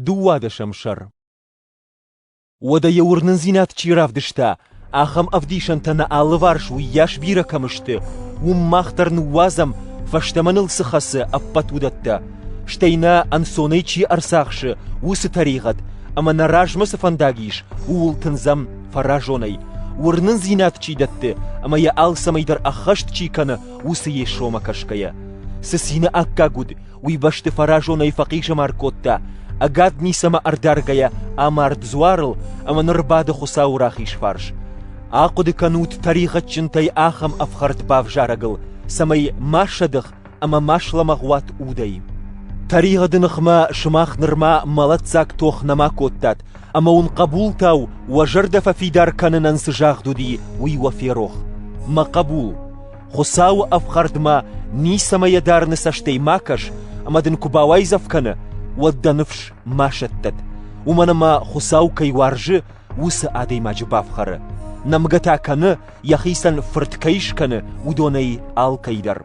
Дыууадӕсӕм сӕр Уӕдӕ йӕ уырнындзинад чи равдыста, ахӕм ӕвдисӕнтӕ нӕ алыварс уыйас бирӕ кӕм сты, уым мах дӕр ныууадзӕм, фӕстӕмӕ ныл цы хӕцы ӕппӕт уыдӕттӕ, стӕй нӕ ӕнцонӕй чи ӕрцахсы, уыцы тӕригъӕд, ӕмӕ нӕ размӕ цы фӕндаг ис, ууыл тындзӕм фӕразонӕй, уырнындзинад чи дӕтты ӕмӕ йӕ алцӕмӕй дӕр ӕххӕст чи кӕны, уыцы Йесомӕ кӕсгӕйӕ. Цы цины аккаг уыд, уый бӕсты фӕразонӕй фӕхъизӕмар кодта, ӕгад ницӕмӕ ӕрдаргӕйӕ амард дзуарыл ӕмӕ ныр бады Хуыцауы рахиз фарс. Ахъуыды кӕнут тӕригъӕдджынтӕй ахӕм ӕфхӕрд бавзарӕгыл, цӕмӕй ма сӕдых ӕмӕ ма слӕмӕгъ уат удӕй. Тӕригъӕды ныхмӕ сымах нырма мӕлӕтдзаг тох нӕма кодтат, ӕмӕ уын хъӕбултау уӕ зӕрдӕ фӕфидар кӕнынӕн цы загъд уыди, уый уӕ ферох. Мӕ хъӕбул, Хуыцауы ӕфхӕрдмӕ ницӕмӕ йӕ дарыны цӕстӕй ма кӕс, ӕмӕ дын куы бауайдзӕф кӕны, уӕд дӕ ныфс ма сӕттӕд, уымӕн ӕмӕ Хуыцау кӕй уарзы, уыцы адӕймаджы бафхӕры, нӕмгӕ та кӕны, йӕхицӕн фырт кӕй скӕны, уыдонӕй алкӕй дӕр.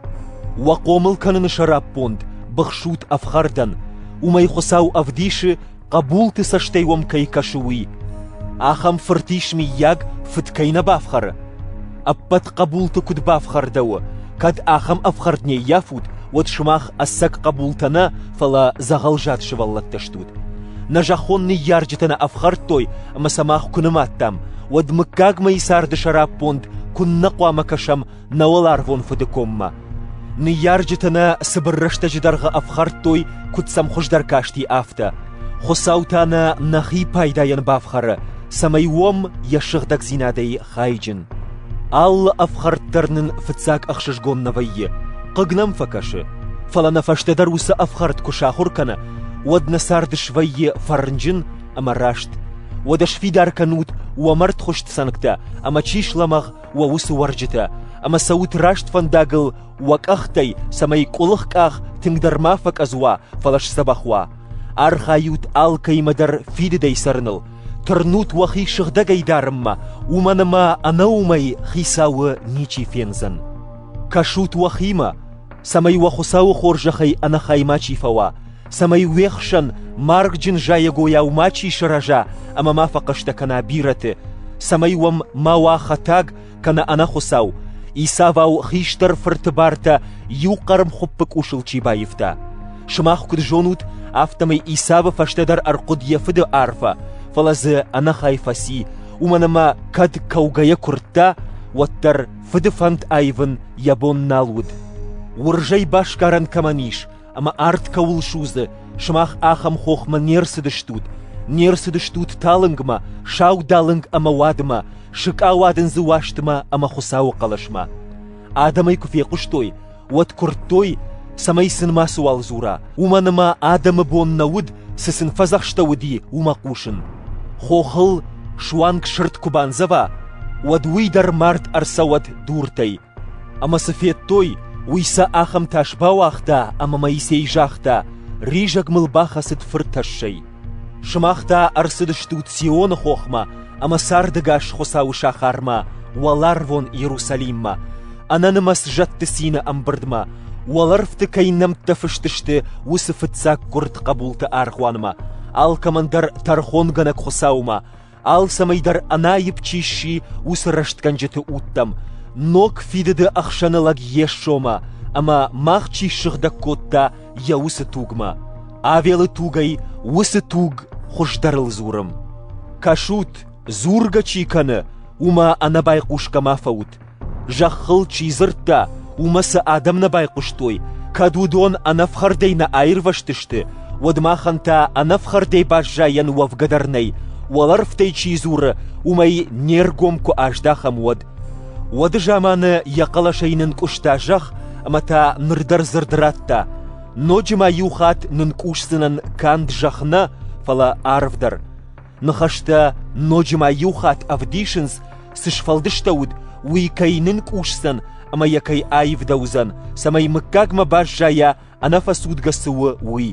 Уӕ хъомыл кӕныны сӕраппонд быхсут ӕфхӕрдӕн, уымӕй Хуыцау ӕвдисы, хъӕбулты цӕстӕй уӕм кӕй кӕсы, уый. Ахӕм фырт ис, миййаг, фыд кӕй нӕ бафхӕры? Ӕппӕт хъӕбулты куыд бафхӕрдӕуы, кӕд ахӕм ӕфхӕрд не ййафут, уӕд сымах ӕцӕг хъӕбултӕ нӕ, фӕлӕ дзӕгъӕлзад сывӕллӕттӕ стут. Нӕ зӕххон ныййарджытӕ нӕ ӕфхӕрдтой, ӕмӕ сӕ мах куы нымадтам, уӕд мыггагмӕйы царды сӕраппонд куыннӕ хъуамӕ кӕсӕм нӕ уӕларвон Фыды коммӕ. Ныййарджыты нӕ цыбыр рӕстӕджы дӕргъы ӕфхӕрдтой, куыд сӕм хуыздӕр касти, афтӕ. Хуыцау та нӕ нӕхи пайдайӕн бафхӕры, цӕмӕй уӕм йӕ сыгъдӕгдзинадӕй хайджын. Алы ӕфхӕрд дӕр нын фыццаг ӕхсызгон нӕ вӕййы, хъыг нӕм фӕкӕсы, фӕлӕ нӕ фӕстӕдӕр уыцы ӕфхӕрд куы сахуыр кӕна, уӕд нӕ цард свӕййы фӕрнджын ӕмӕ раст. Уӕдӕ сфидар кӕнут уӕ мӕрдхуыст цӕнгтӕ ӕмӕ чи слӕмӕгъ, уӕ уыцы уӕрджытӕ, ӕмӕ цӕут раст фӕндагыл уӕ къӕхтӕй, цӕмӕй къуылых къах тынгдӕр ма фӕкъӕдз уа, фӕлӕ сдзӕбӕх уа. Архайут алкӕимӕ дӕр фидыдӕй цӕрыныл, тырнут уӕхи сыгъдӕгӕй дарынмӕ, уымӕн ӕмӕ ӕнӕуымӕй Хицауы ничи фендзӕн. Кӕсут уӕхимӕ, цӕмӕй уӕ Хуыцауы хорзӕхӕй ӕнӕхай мачи фӕуа, цӕмӕй уе хсӕн маргджын зайӕгойау мачи сырӕза ӕмӕ ма фӕхъӕстӕ кӕна бирӕты, цӕмӕй уӕм ма уа хӕтӕг, кӕнӕ ӕнӕхуыцау, исӕвау хистӕр фырты бартӕ иу хъӕрмхуыппы къусыл чи баивта. Сымах куыд зонут, афтӕмӕй Исавы фӕстӕдӕр ӕрхъуыд йӕ фыды арфӕ, фӕлӕ дзы ӕнӕхай фӕци, уымӕн ӕмӕ кӕд кӕугӕйӕ куырдта, уӕддӕр фыды фӕнд аивын йӕ бон нал уыд. Уырзӕй басгарӕн кӕмӕн ис, ӕмӕ арт кӕуыл судзы, сымах ахӕм хохмӕ не рцыдыстут, не рцыдыстут талынгмӕ, саудалынг ӕмӕ уадмӕ, сыкъауадындзы уастмӕ ӕмӕ Хуыцауы хъӕлӕсмӕ. Адӕмӕй куы фехъуыстой, уӕд куырдтой, цӕмӕй сын мацыуал дзура, уымӕн ӕмӕ адӕмы бон нӕ уыд, цы сын фӕдзӕхстӕуыди, уымӕ хъусын. Хохыл суанг сырд куы бандзӕва, уӕд уый дӕр мард ӕрцӕуӕд дуртӕй, Ӕмӕ цы федтой, уый сӕ ахӕм тас бауагъта, ӕмӕ Моисей загъта, ризӕг мыл бахӕцыд фыртӕссӕй. Сымах та ӕрцыдыстут Сионы хохмӕ ӕмӕ сӕрдыгас Хуыцауы сахармӕ, уӕларвон Иерусалиммӕ, ӕнӕнымӕц зӕдты цины ӕмбырдмӕ, уӕлӕрвты кӕй нӕмттӕ фыст сты, уыцы фыццаг гуырд хъӕбулты аргъуанмӕ, алкӕмӕн дӕр тӕрхонгӕнӕг Хуыцаумӕ, Алцӕмӕй дӕр ӕнаипп чи сси, уыцы рӕстгӕнджыты удтӕм, ног фидыды ӕхсӕны лӕг Йесомӕ ӕмӕ мах чи ссыгъдӕг кодта йӕ уыцы тугмӕ. Авелы тугӕй уыцы туг хуыздӕрыл дзурым. Кӕсут, дзургӕ чи кӕны, уымӕ ӕнӕбайхъусгӕ ма фӕут, Зӕххыл чи дзырдта, уымӕ сӕ адӕм нӕ байхъуыстой, кӕд уыдон ӕнӕфхӕрдӕй нӕ аирвӕзтысты, уӕд махӕн та ӕнӕфхӕрдӕй баззайӕн уӕвгӕ дӕр нӕй, уӕлӕрвтӕй чи дзуры, уымӕй не ргом куы аздахӕм, уӕд. Уӕды заманы йӕ хъӕлӕсӕй нынкъуыста зӕхх ӕмӕ та ныр дӕр дзырд радта: ноджы ма иу хатт нынкъусдзынӕн канд зӕхх нӕ, фӕлӕ арв дӕр. Ныхӕстӕ ноджы ма иу хатт ӕвдисынц, цы сфӕлдыстӕуыд, уый кӕй нынкъусдзӕн ӕмӕ йӕ кӕй аивдӕуыдзӕн, цӕмӕй мыггагмӕ баззайа, ӕнӕфӕцудгӕ цы у, уый.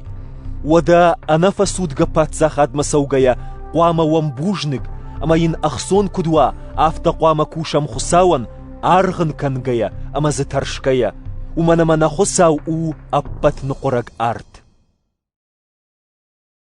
Уӕдӕ ӕнӕфӕцудгӕ паддзахадмӕ цӕугӕйӕ хъуамӕ уӕм бузныг, ӕмӕ йын ӕхцон куыд уа, афтӕ хъуамӕ кусӕм Хуыцауӕн, аргъ ын кӕнгӕйӕ ӕмӕ дзы тӕрсгӕйӕ, уымӕн ӕмӕ нӕ Хуыцау у ӕппӕт ныхъуырӕг арт.